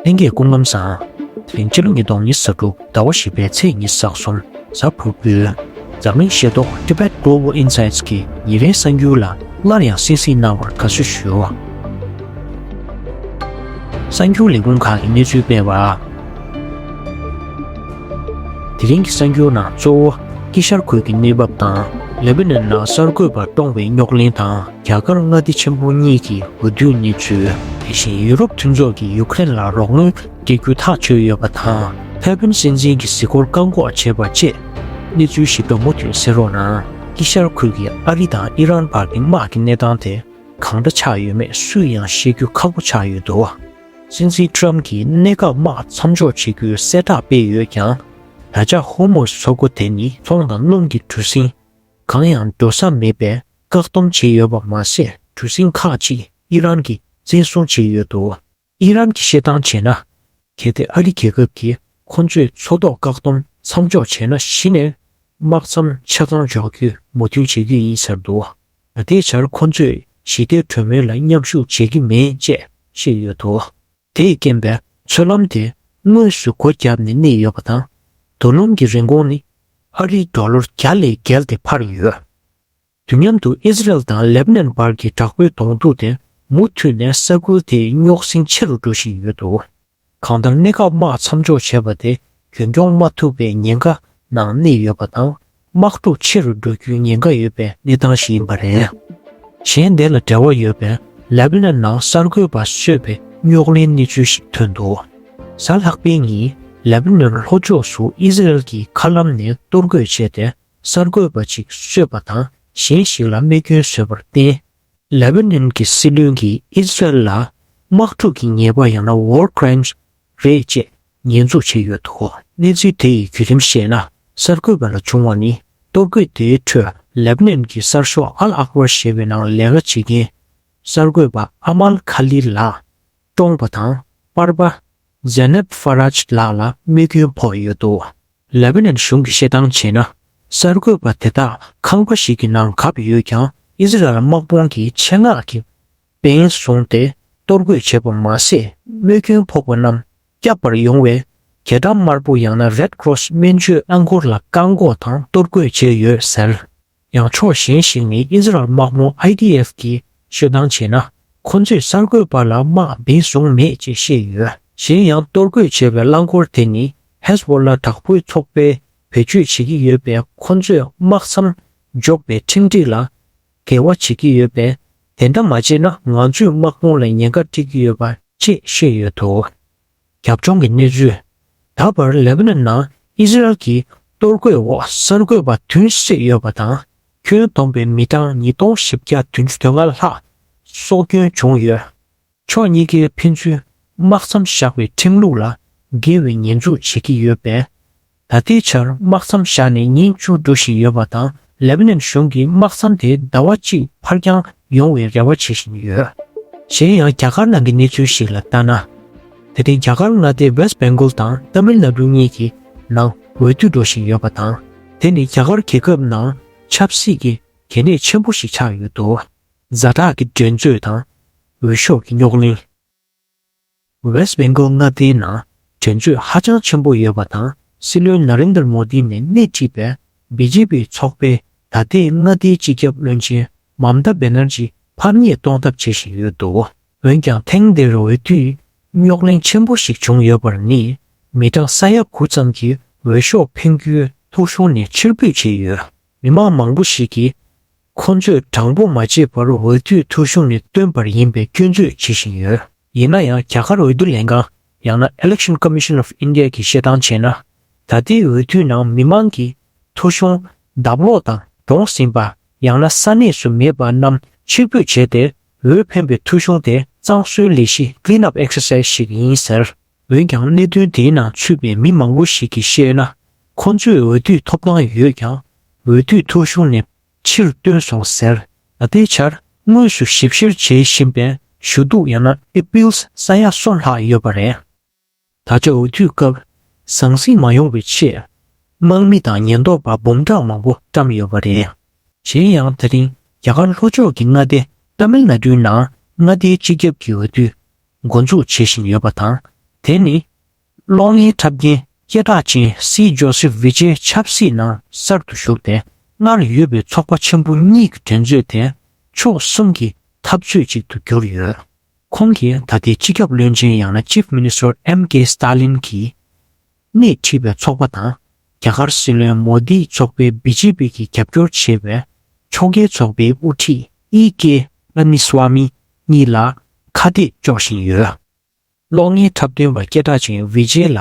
ལྷན་སྐྱེས་ཀུན་ལམ་བཟང། དེ་རིང་ཕྱི་ལོ་ཉིས་སྟོང་ཉིས་བརྒྱད་དྲུག་ཟླ་བ་བཞི་པའི་ཚེས་གཉིས་ཟགས་སོང་གཟའ་ཕུར་བུས། འཛམ་གླིང་ཤེས་རྟོགས Tibet Global Insights གི་ཉིན་རེའི་གསར་འགྱུར་ལ་སླར་ཡང་གསན་གཟིགས་གནང་བར་དགའ་བསུ་ཞུ། གསར་འགྱུར་ལས་ཁུངས་ཁག་གིས་གནས་ཚུལ་སྤེལ་བར། དེ་རིང་གི་གསར་འགྱུར་ནང་གཙོ་བོ་དཀྱིལ་ཤར་ཁུལ་གྱི་གནས་བབ་དང Lebanon ནང་གསར་འགོད་པར་བཀྲོངས་བའི་རྙོག་གླེང་དང། རྒྱ་གར་མངའ་སྡེ་ཆེན་པོ་གཉིས་ཀྱི་འོས་བསྡུའི་གནས་ཚུལ། དེ་བཞིན་ཡུ་རོབ་མཐུན་ཚོགས་ཀྱིས་ཡུཀ་རེན་ལ་རོགས་དངུལ་སྤྲད་རྒྱུ་ཐག་གཅོད་ཡོད་པ་དང་ཕེལ་ཕིན་སྲིད་འཛིན་གྱི་གཟིགས་སྐོར་བཀག་འགོག་བྱས་པ་བཅས། གནས་ཚུལ་ཞིབ་ཕྲ་མུ་མཐུད་གསན་རོགས་གནང། དཀྱིལ་ཤར་ཁུལ་གྱི་ཨ་རི་དང་ཨི་རན་བར་གྱི་དམག་གི་གནས་སྟངས་དེ་གང་འདྲ་ཆགས་ཡོད་མེད་སུས་ཡང་ཤེས་རྒྱུ་ཁག་པོ་ཆགས་ཡོད་འདུག་སྲིད་འཛིན Trump གྱིས་གནད་འགག་དམག་མཚམས་འཇོག་བྱེད་རྒྱུའི་གསལ་བསྒྲགས་སྤེལ་ཡོད་ཀྱང། ད་ཆ Hormuz མཚོ་སྒོ་དེ་ནི་ཚོང་དང་རླུང་གི་གྲུ་གཟིངས། གང་ཡང་འགྲོ་ས་མེད་པས་བཀག་སྡོམ་བྱས་ཡོད་པ་མ་ཟད་གྲུ་གཟིངས་ཁག་ཅིག་ཨི་རན་གྱིས་བཙན་བཟུང་བྱས་ཡོད་འདུག་ཨི་རན་གྱིས་བཤད་སྟངས་བྱས་ན། གལ་ཏེ་ཨ་རི་རྒྱལ་ཁབ་ཀྱིས་ཁོ་ཚོས་མཚོ་ཐོག་བཀག་སྡོམ་མཚམས་འཇོག་བྱས་ན་གཞི་ནས་དམག་མཚམས་ཆ་ཚང་འཇོག་རྒྱུ་མུ་མཐུད་བྱེད་རྒྱུ་ཡིན་ཟེར་འདུག་ད་ལྟའི་ཆར་ཁོ་ཚོས་ཞི་བདེའི་གྲོས་མོལ་ལ་མཉམ་ཞུགས་བྱེད་ཀྱི་མེད་ཅེས་བཤད་ཡོད་འདུག་དེས་རྐྱེན་པས་མཚོ་ལམ་དེ་དངོས་སུ་སྒོ་བརྒྱབ་ནས་གནས་ཡོད་པ་དང། རྡོ་སྣུམ་གྱི་རིན་གོང་ནི་ཨ་རིའི་ཡོ་ལོར་བརྒྱ་ལས་བརྒལ་ཏེ་འཕར་ཡོད། དུས་མཉམ་དུ་ཨི་ཟི་རལ་དང་ལེབ་ནན་བར་གྱི་དྲག་པོའི་གདོང་ཐུག་དེ་མུ་མཐུད་ནས་ས་ཁུལ་དེའི་རྙོག་ཟིང་ཆེ་རུ་འགྲོ་བཞིན་ཡོད་འདུག་གང་ལྟར་གནད་འགག་དམག་མཚམས་འཇོག་བྱས་པ་དེ་རྒྱུན་སྐྱོང་མ་ཐུབ་པའི་ཉེན་ཁ་ནང་གནས་ཡོད་པ་དང་དམག་འཁྲུག་ཆེ་རུ་འགྲོ་རྒྱུའི་ཉེན་ཁ་ཡོད་པའི་གནས་སྟངས་ཤིག་ཡིན་པ་རེད། གཞན་དེ་ལ་འབྲེལ་བ་ཡོད་པའི་ལེབ་ནན་ནང་གསར་འགོད་པ་གསོད་པའི་རྙོག་གླེང་གནས་ཚུལ་ཞིག་ཐོན་འདུག་གཟའ་ལྷག་པའི་ཉིན་ལེབ་ནན་ལྷོ་ཕྱོགས་སུ་ཨི་ཟི་རལ་གྱིས་མཁའ་ལམ་ནས་གཏོར་རྒོལ་བྱས་ཏེ་གསར་འགོད་པ་ཅིག་གསོད་པ་དང་གཞན་ཞིག་ལ་རྨས་སྐྱོན་བཟོས་པར་བརྟེན། ལེ་བྷ་ནན་གྱི་སྲིད་བློན་གྱིས་ཨི་སི་རལ་ལ་དམག་འཁྲུག་གི་ཉེས་པ་ཡང་ན War Crimes རེད་ཅེས་ཉེས་འཛུགས་བྱས་ཡོད་འདུག་གནས་ཚུལ་དེ་ཡི་བརྒྱུད་རིམ་བཤད་ན་གསར་འགོད་པ་ལ་བྱུང་བ་ནི་གཏོར་རྒོལ་དེའི་ཁྲོད་ལེ་བྷ་ནན་གྱི་གསར་ཤོག Al Akhbar ཞེས་པའི་ནང་ལས་ཀ་བྱེད་མཁན་གསར་འགོད་པ Amal Khalil ལགས་བཀྲོངས་པ་དང་པར་པ Zeynep Faraj ལགས་ལ་དམིགས་སྐྱོན་ཕོག་ཡོད་འདུག་ལེ་བྷི་ནན་གཞུང་གིས་བཤད་སྟངས་བྱས་ན་གསར་འགོད་པ་དེ་དག་ཁང་པ་ཞིག་གི་ནང་གབ་ཡོད་ཀྱང་ཨིསི་རལ་དམག་དཔུང་གིས་ཆེད་མངགས་ཀྱིས་འབེན་བཟུང་སྟེ་གཏོར་རྒོལ་བྱས་པ་མ་ཟད་དམིགས་སྐྱོན་ཕོག་པ་རྣམས་བསྐྱབ་པར་ཡོང་བའི་གྱ་སྒྲ་དམར་པོ་ཡང་ན Red Cross སྨན་བཅོས་རླངས་འཁོར་ལ་བཀག་འགོག་དང་གཏོར་རྒོལ་བྱས་ཡོད་ཟེར། ཡང་ཕྱོགས་གཞན་ཞིག་ནས་ཨི་ཟི་རལ་དམག་དམོད IDF གྱིས་ཤོད་སྟངས་བྱས་ན་ཁོ་ཚོས་གསར་འགོད་པ་ལ་དམག་འདེད་བཟུང་མེད་ཅེས་བཤད་ཡོད། གཞན་ཡང་གཏོར་རྒོལ་བྱས་པའི་རླངས་འཁོར་དེ་ནི་ཧེས་བོ་ལ་དྲག་པོའི་ཚོགས་པས་བེད་སྤྱོད་བྱེད་ཀྱི་ཡོད་པས་ཁོ་ཚོས་དམག་མཚམས་འཇོག་པའི་ཁྲིམས་སྒྲིག་ལ་འགལ་བ་བྱེད་ཀྱི་ཡོད་པས་དེ་འདྲ་མ་བྱས་ན་ང་ཚོས་དམག་དཔུང་ལ་ཉེན་ཁ་སྤྲད་ཀྱི་ཡོད་པ་ཅེས་བཤད་ཡོད་འདུག། རྒྱབ་ལྗོངས་ཀྱི་གནས་ཚུལ། ད་བར་ལེ་བྷ་ནོན་ནང་ཨི་ཟི་རལ་གྱི་གཏོར་རྒོལ་འོག་གསར་འགོད་པ་བདུན་བསད་ཡོད་པ་དང་ཁྱོན་བསྡོམས་པའི་མི་གྲངས་ཉིས་སྟོང་བཞི་བརྒྱ་བདུན་ཅུ་དོན་ལྔ་ལྷག་སྲོག་སྐྱོན་བྱུང་ཡོད། ཕྱོགས་གཉིས་ཀས་ཕན་ཚུན་དམག་མཚམས་བཞག་པའི་ཁྲིམས་ལུགས་ལ་འགལ་བའི་ཉེས་འཛུགས་བྱེད་ཀྱི་ཡོད་པས། ད་ལྟའི་ཆར་དམག་མཚམས་བཞག་ནས་ཉིན་བཅུ་འགྲོ་བཞིན་ཡོད་པ་དང་ལེབ་ནན་གཞུང་གིས་དམག་མཚམས་དེ་ཟླ་བ་གཅིག་ཕར་བརྐྱངས་ཡོང་བའི་རེ་བ་བྱེད་བཞིན་ཡོད། གཞན་ཡང་རྒྱ་གར་ནང་གི་གནས་ཚུལ་ཞིག་ལ་ལྟ་ན། ད་ལྟའི་རྒྱ་གར་མངའ་སྡེ West Bengal དང Tamil Nadu གཉིས་ཀྱི་ནང་འོས་བསྡུ་འགྲོ་བཞིན་ཡོད་པ་དང་དེ་ནི་རྒྱ་གར་རྒྱལ་ཁབ་ནང་ཆབ་སྲིད་ཀྱི་གལ་གནད་ཆེན་པོ་ཞིག་ཆགས་ཡོད་འདུག། མཛའ་གྲགས་ཀྱི་འགྲན་རྩོད་དང་འོས་ཤོག་གི་རྙོག་གླེང། West Bengal མངའ་སྡེའི་ནང་དྲན་གཅོད་ཧ་ཅང་ཆེན་པོ་ཡོད་པ་དང་སྲིད་བློན Narendra Modi ནས་སྣེ་ཁྲིད་པའི BJP ཚོགས་པས་ད་ལྟའི་མངའ་སྡེའི་སྤྱི་ཁྱབ་བློན་ཆེན Mamta Banerjee ཕམ་ཉེས་གཏོང་ཐབས་བྱེད་བཞིན་ཡོད་འདུག་འོན་ཀྱང་ཐེངས་འདིར་འོས་བསྡུའི་རྙོག་གླེང་ཆེན་པོ་ཞིག་བྱུང་ཡོད་པར་ནི་མི་གྲངས་ས་ཡ་དགུ་ཙམ་གྱིས་འོས་ཤོག་འཕེན་རྒྱུའི་ཐོ་གཞུང་ནས་ཕྱིར་འབུད་བྱས་ཡོད། མི་མང་མང་པོ་ཞིག་གིས་ཁོང་ཚོས་དྲང་པོ་མ་བྱས་པར་འོས་བསྡུའི་ཐོ་གཞུང་ནས་བཏོན་པར་ཡིན་པའི་སྐྱོན་བརྗོད་བྱེད་བཞིན་ཡོད། ཡིན་ན་ཡང་རྒྱ་གར་འོས་བསྡུ་ལས་ཁང་ཡང་ན Election Commission of India གིས་བཤད་སྟངས་བྱས་ན། ད་ལྟའི་འོས་བསྡུའི་ནང་མི་མང་གིས་ཐོ་གཞུང་ལྡབ་ལོག་དང་བགྲོངས་ཟིན་པ་ཡང་ན་ས་གནས་སུ་མེད་པ་རྣམས་ཕྱིར་འབུད་བྱས་ཏེ་འོས་འཕེན་པའི་ཐོ་གཞུང་དེ་གཙང་བཟོའི་ལས་གཞི Clean Up Exercise ཞིག་ཡིན་ཟེར། འོན་ཀྱང་གནད་དོན་དེའི་ནང་ཚུད་པའི་མི་མང་པོ་ཞིག་གིས་བཤད་ན་ཁོ་ཚོས་འོས་བསྡུའི་ཐོབ་ཐང་ཡོད་ཀྱང་འོས་བསྡུའི་ཐོ་གཞུང་ནས་ཕྱིར་བཏོན་སོང་ཟེར། ད་ལྟའི་ཆར་དངོས་སུ་ཞིབ་བཤེར་བྱེད་བཞིན་པའི་ཞུ་གཏུག་ཡང་ན Appeals ས་ཡ་སོ་ལྷག་ཡོད་པ་རེད། ད་ཆ་འོས་བསྡུའི་སྐབས་ཟང་ཟིང་མ་ཡོང་བའི་ཆེད་དམག་མི་དང་ཉེན་རྟོག་པ་འབུམ་ཕྲག་མང་པོ་བཀྲམས་ཡོད་པ་རེད། གཞན་ཡང་ད་རིང་རྒྱ་གར་ལྷོ་ཕྱོགས་ཀྱི་མངའ་སྡེ Tamil Nadu ནང་མངའ་སྡེའི་སྤྱི་ཁྱབ་ཀྱི་འོས་བསྡུ་འགོ་འཛུགས་བྱེད་བཞིན་ཡོད་པ་དང། དེ་ནི། གློག་བརྙན་འཁྲབ་མཁན་སྐད་གྲགས་ཅན་སི་ཇོ་སི་བྷི་ཇེ་ཆབ་སྲིད་ནང་གསར་དུ་ཞུགས་ཏེ་སྔར་ཡོད་པའི་ཚོགས་པ་ཆེན་པོ་གཉིས་ཀྱི་འགྲན་རྩོད་དེ་ཕྱོགས་གསུམ་གྱི་འཐབ་རྩོད་ཅིག་ཏུ་གྱུར་ཡོད། ཁོང་གིས་ད་ལྟའི་སྤྱི་ཁྱབ་བློན་ཆེན་ཡང་ན Chief Minister MK Stalin གྱིས་སྣེ་ཁྲིད་པའི་ཚོགས་པ་དང་རྒྱ་གར་སྲིད་བློན་མོ་དཱིའི་ཚོགས་པའི་སྦི་ཇེ་པི་གིས་རྒྱབ་སྐྱོར་བྱེད་པའི་ཕྱོགས་འགལ་ཚོགས་པའི་དབུ་ཁྲིད་ཨི་ཀེ་ལཱ་མི་སཝཱ་མི་གཉིས་ལ་ཁ་གཏད་གཅོག་བཞིན་ཡོད། གློག་བརྙན་འཁྲབ་སྟོན་པ་སྐད་གྲགས་ཅན་བི་ཇེ་ལ་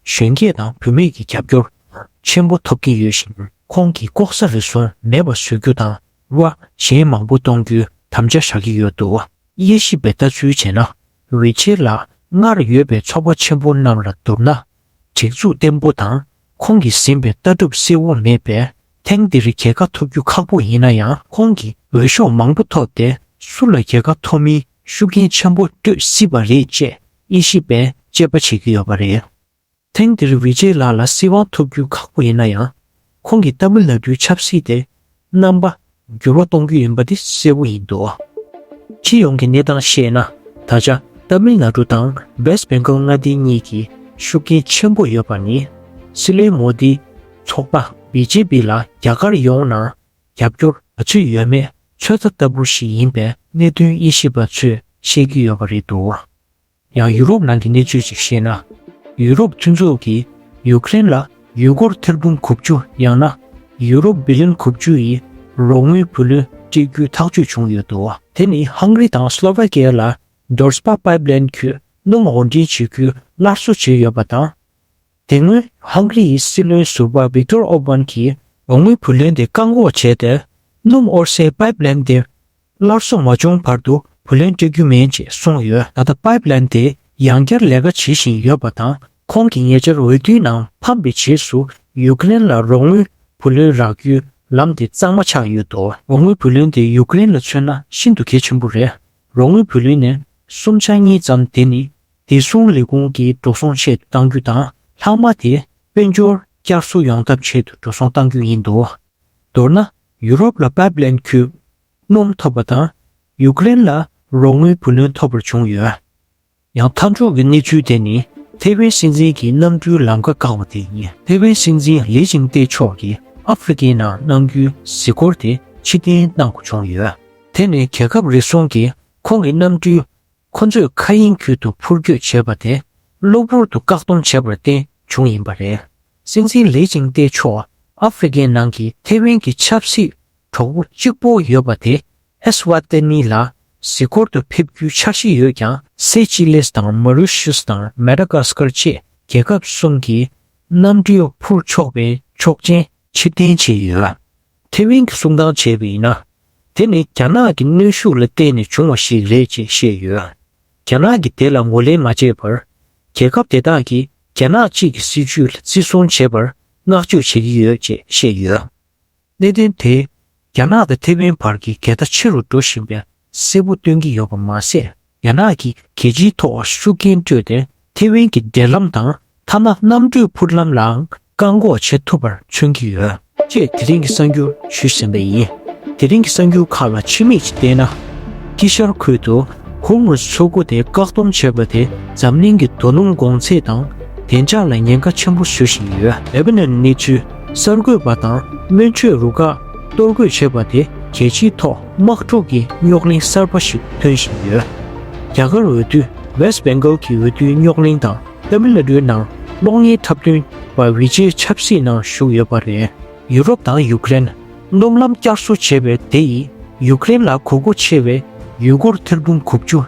གཞོན་སྐྱེས་དང་བུད་མེད་ཀྱི་རྒྱབ་སྐྱོར་ཆེན་པོ་ཐོབ་ཀྱི་ཡོད་ཞིང་ཁོང་གིས་ལྐོག་ཟ་རེ་ཟུང་མེད་པ་བཟོ་རྒྱུ་དང་དབྱེ་བ་གཞན་མང་པོ་གཏོང་རྒྱུའི་དམ་བཅའ་བཞག་གི་ཡོད་འདུག་དབྱེ་ཞིབ་པའི་ལྟ་ཚུལ་བྱས་ན་འོས་ཆེན་ལ་སྔར་ཡོད་པའི་ཚོགས་པ་ཆེན་པོ་རྣམས་ལ་བསྡུར་ན་སྒྲིག་འཛུགས་བརྟན་པོ་དང་ཁོང་གིས་ཟིན་པའི་ལྟ་གྲུབ་སྲིད་དབང་མེད་པས་ཐེངས་འདིར་རྒྱལ་ཁ་ཐོབ་རྒྱུ་ཁག་པོ་ཡིན་ན་ཡང་ཁོང་གིས་འོས་ཤོག་མང་པོ་ཐོབ་སྟེ་སུ་ལ་རྒྱལ་ཁ་ཐོབ་མིན་ཤུགས་རྐྱེན་ཆེན་པོ་སྤྲོད་སྲིད་པ་རེད་ཅེས་དབྱེ་ཞིབ་པས་དཔྱད་པ་བྱེད་ཀྱི་ཡོད་པ་རེད། ཐེངས་འདིར་བྷི་ཇེ་ལགས་ལ་སྲིད་དབང་ཐོབ་རྒྱུ་ཁག་པོ་ཡིན་ན་ཡང། ཁོང་གིས་ཏཱ་མིལ་ནཱ་ཏུའི་ཆབ་སྲིད་དེ་རྣམ་པ་འགྱུར་བ་གཏོང་རྒྱུ་ཡིན་པ་དེ་གསལ་བོ་ཡིན་འདུག་སྤྱི་ཡོངས་ཀྱི་གནས་སྟངས་བཤད་ན་ད་ཆ་ཏཱ་མིལ་ནཱ་ཏུ་དང་བེས་བེང་གྷལ་མངའ་སྡེ་གཉིས་ཀྱི་ཤུགས་རྐྱེན་ཆེན་པོ་ཡོད་པ་ནི་སྲིད་བློན་མོ་དཱིའི་ཚོགས་པ་བྷི་ཇེ་པི་ལ་རྒྱ་གར་ཡོངས་ནང་རྒྱབ་སྐྱོར་ག་ཚོད་ཡོད་མེད་ཚོད་ལྟ་ལྟ་བུ་ཞིག་ཡིན་པའི་གནད་དོན་དབྱེ་ཞིབ་པ་ཚོས་བཤད་ཀྱི་ཡོད་པ་རེད་འདུག་ཡང་ཡུ་རོབ་ནང་གི་གནས་ཚུལ་ཅིག་བཤད་ན། ཡུ་རོབ་མཐུན་ཚོགས་ཀྱིས་ཡུ་ཀེ་རེན་ལ་ཡུལ་སྐོར་ཐེར་འབུམ་གོ་བཅུ་ཡང་ན་ཡུ་རོ་བི་ལིོན་གོ་བཅུ་ཡི་རོགས་དངུལ་བུ་ལོན་སྤྲད་རྒྱུའི་ཐག་གཅོད་བྱུང་ཡོད་དོ། དེ་ནི་ཧང་རི་དང་སི་ལོ་ཝེ་ཀེ་ལ Dorspah Pipeline ཁུལ་སྣུམ་དབོར་འདྲེན་བྱེད་ཁུལ་སླར་གསོ་བྱས་ཡོད་པ་དང། དེ་སྔོན་ཧང་གི་རི་ཡི་སྲིད་བློན་ཟུར་པ་བིག་ཏོར་ཨོར་བྷན་གྱིས་དོག་མོའི་བུ་ལོན་དེ་བཀག་འགོག་བྱས་ཏེ། སྣུམ་དབོར་སའི་པཱེབ་ལེན་དེ་སླར་གསོ་མ་བྱུང་བར་དུ་བུ་ལོན་སྤྲད་རྒྱུ་མིན་ཅེས་གསུངས་ཡོད། ད་ལྟ་པཱེབ་ལེན་དེ་ཡང་བསྐྱར་ལས་ཀ་བྱེད་བཞིན་ཡོད་པ་དང་ཁོང་གིས་ཉེ་ཆར་འོས་བསྡུའི་ནང་ཕམ་པའི་རྗེས་སུ་ཡུ་ཀེ་རེན་ལ་རོགས་དངུལ་བུ་ལོན་རག་རྒྱུའི་ལམ་དེ་གཙང་མ་ཆགས་ཡོད་དོ། རོགས་དངུལ་བུ་ལོན་དེ་ཡུ་ཀེ་རེན་ལ་མཚོན་ན་ཤིན་ཏུ་གལ་ཆེན་པོ་རེད། རོགས་དངུལ་བུ་ལོན་ནི་སུམ་ཆ་གཉིས་ཙམ་དེ་ནི་བདེ་སྲུང་ལས་ཁུངས་ཀྱིས་འགྲོ་སོང་ཆེད་དུ་གཏང་རྒྱུ་དང་ལྷག་མ་དེ་དཔལ་འབྱོར་བསྐྱར་གསོ་ཡོང་ཐབས་ཆེད་དུ་འགྲོ་སོང་གཏང་རྒྱུ་ཡིན་འདུག་མདོར་ན་ཡུ་རོབ་ལ་པཱེབ་ལན་ཁྱུག་སྣུམ་ཐོབ་པ་དང་ཡུ་ཀེ་རེན་ལ་རོགས་དངུལ་བུ་ལོན་ཐོབ་པར་བྱུང་ཡོད། ཡང་མཐའ་འཇོག་གི་གནས་ཚུལ་དེ་ནི་ཐེ་ཝན་སྲིད་འཛིན་གྱིས་གནང་རྒྱུའི་ལམ་ཁ་བཀག་པ་དེ་ཡིན། ཐེ་ཝན་སྲིད་འཛིན་ལི་ཅིང་ཏེ་མཆོག་གིས་ཨ་ཧྥེ་རི་ཀའི་ནང་གནང་རྒྱུའི་གཟིགས་སྐོར་དེ་ཕྱི་བསྟན་གནང་དགོས་བྱུང་ཡོད། དེ་ནི་རྒྱལ་ཁབ་རེ་ཟུང་གིས་ཁོང་གི་གནམ་གྲུའི་ཁོ་ཚོས་མཁའ་དབྱིངས་ཁུལ་དུ་འཕུར་སྐྱོད་བྱེད་པ་དེ་གློ་བུར་དུ་བཀག་སྡོམ་བྱས་པར་བརྟེན་བྱུང་ཡིན་པ་རེད། སྲིད་འཛིན་ལི་ཅིང་ཏེ་མཆོག་ཨ་ཧྥེ་རི་ཀའི་ནང་གི་ཐེ་ཝན་གྱི་ཆབ་སྲིད་གྲོགས་པོ་གཅིག་པོ་ཡོད་པ་དེ་ཨེ་སི་ཝཱ་ཏེ་ནི་ལ་གཟིགས་སྐོར་དུ་ཕེབས་རྒྱུའི་འཆར་གཞི་ཡོད་ཀྱང། སེ་ཅི་ལིས་དང་མཱ་རུ་ཤུས་དང་མཱེ་ཏཱ་ཀཱ་སི་ཀར་བཅས་རྒྱལ་ཁབ་གསུམ་གྱིས་གནམ་གྲུའི་འཕུར་ཕྱོགས་པའི་ཆོག་མཆན་ཕྱིར་འཐེན་བྱས་ཡོད། ཐེ་ཝན་གྱིས་གསུང་བཏང་བྱས་པ་ཡིན་ན། དེ་ནི་རྒྱ་ནག་གི་གནོན་ཤུགས་ལ་བརྟེན་ནས་བྱུང་བ་ཞིག་རེད་ཅེས་བཤད་ཡོད། རྒྱ་ནག་གིས་དེ་ལ་ངོས་ལེན་མ་བྱས་པར། རྒྱལ་ཁབ་དེ་དག་གིས་རྒྱ་ནག་གཅིག་གི་སྲིད་ཇུས་ལ་བརྩི་སྲུང་བྱེད་པར་བསྔགས་བརྗོད་བྱེད་ཀྱི་ཡོད་ཅེས་བཤད་ཡོད། གནད་དོན་དེས་རྒྱ་ནག་དང་ཐེ་ཝན་བར་གྱི་འགལ་ཟླ་ཆེ་རུ་འགྲོ་བཞིན་པའི་གསལ་པོ་སྟོན་གྱི་ཡོད་པ་མ་ཟད་རྒྱ་ནག་གིས་རྒྱལ་སྤྱིའི་ཐོག་ཤུགས་རྐྱེན་སྤྲོད་དེ་ཐེ་ཝན་གྱི་འབྲེལ་ལམ་དང་ཐ་ན་གནམ་གྲུའི་འཕུར་ལམ་ལའང་བཀག་འགོག་བྱེད་ཐུབ་པར་མཚོན་གྱི་ཡོད། ཅེས་དེ་རིང་གི་གསར་འགྱུར་ཞུས་ཟིན་པ་ཡིན། དེ་རིང་གི་གསར་འགྱུར་ཁག་ལ་ཕྱི་མིག་ཅིག་བལྟས་ན། དཀྱིལ་ཤར་ཁུལ་དུ་ཧུར་མུས་སུ་ཆུ་འགོ་དེ་བཀག་སྡོམ་བྱས་པ་དེས་འཛམ་གླིང་གི་རྡོ་སྣུམ་དགོང་ཚད་དང་བདེ་འཇགས་ལ་ཉེན་ཁ་ཆེན་པོ་བཟོ་བཞིན་ཡོད། ལེ་བྷ་ནོན་གནས་ཚུལ་གསར་འགོད་པ་དང་སྨན་བཅོས་རུ་ཁག་གཏོར་རྒོལ་བྱས་པ་དེ་རྒྱལ་སྤྱིའི་ཐོག་དམག་འཁྲུག་གི་རྙོག་གླེང་གསར་པ་ཞིག་ཐོན་བཞིན་ཡོད། རྒྱ་གར་འོས་བསྡུ West Bengal གྱི་འོས་བསྡུའི་རྙོག་གླེང་དང་ཏཱ་མི་ལ་རུའི་ནང་གློག་བརྙན་འཁྲབ་སྟོན་པ་བྷི་ཇེ་ཆབ་སྲིད་ནང་ཞུགས་ཡོད་པ་རེད། ཡུ་རོབ་དང་ཡུ་ཀེ་རན་སྣུམ་ལམ་བསྐྱར་གསོ་བྱེད་པའི་དེ་ཡིས་ཡུ་ཀེ་རན་ལ་གོ་རྒུ་ཆེ་བའི་ཡུལ་སྐོར་ཐེར་འབུམ་དགུ་བཅུ་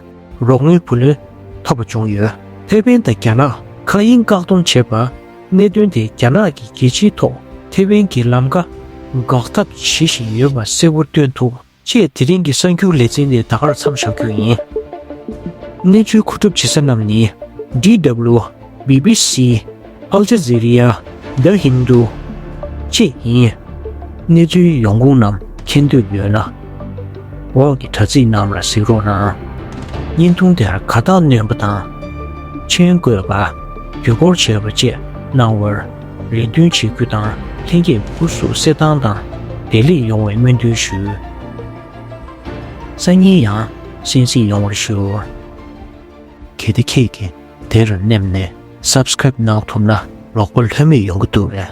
རོགས་དངུལ་བུ་ལོན་ཐོབ་པ་བྱུང་ཡོད། ཕེབས་པན་དང་རྒྱ་ནག་མཁའ་དབྱིངས་བཀག་སྡོམ་བྱས་པ། གནད་དོན་དེ་རྒྱ་ནག་གི་རྒྱལ་སྤྱིའི་ཐོག་ཐེ་ཝན་གྱི་ལམ་ཁ་འགག་ཐབས་བྱེད་བཞིན་ཡོད་པ་གསལ་བོར་སྟོན་ཐུབ་ཅེས་དེ་རིང་གི་གསར་འགྱུར་ལེ་ཚན་འདི་ད་གར་མཚམས་བཞག་རྒྱུ་ཡིན། གནས་ཚུལ་མཁོ་སྒྲུབ་བྱེད་ས་རྣམས་ནི། DW། BBC། Al Jazeera། The Hindu། བཅས་ཡིན། གནས་ཚུལ་ཡོང་ཁུངས་རྣམས་མཁྱེན་འདོད་ཡོད་ན། འོག་གི་དྲ་ཚིགས་རྣམས་ལ་གཟིགས་རོགས་གནང། བརྙན་ཐུང་དེར་ག་དག་སྣོན་པ་དང། མཆན་བཀོད་པ། དུས་འཁོར་བྱས་པ་བཅས་གནང་བར་རེ་འདུན་ཆེ་རྒྱུ་དང་ལྷན་སྐྱེས་བུ་སྐུ་གཟུགས་གསེར་ཐང་དང་བདེ་ལེགས་ཡོང་བའི་སྨོན་འདུན་ཞུ། སང་ཉིན་ཡང་གསན་གཟིགས་ཡོང་བར་ཞུ། གལ་ཏེ་ཁྱེད་ཀྱིས་དེར་སླེབས་ནས Subscribe གནང་ཐུབ་ན་ལོག་པ་ལྷོད་མེད་ཡོང་གི་འདུག་ལས།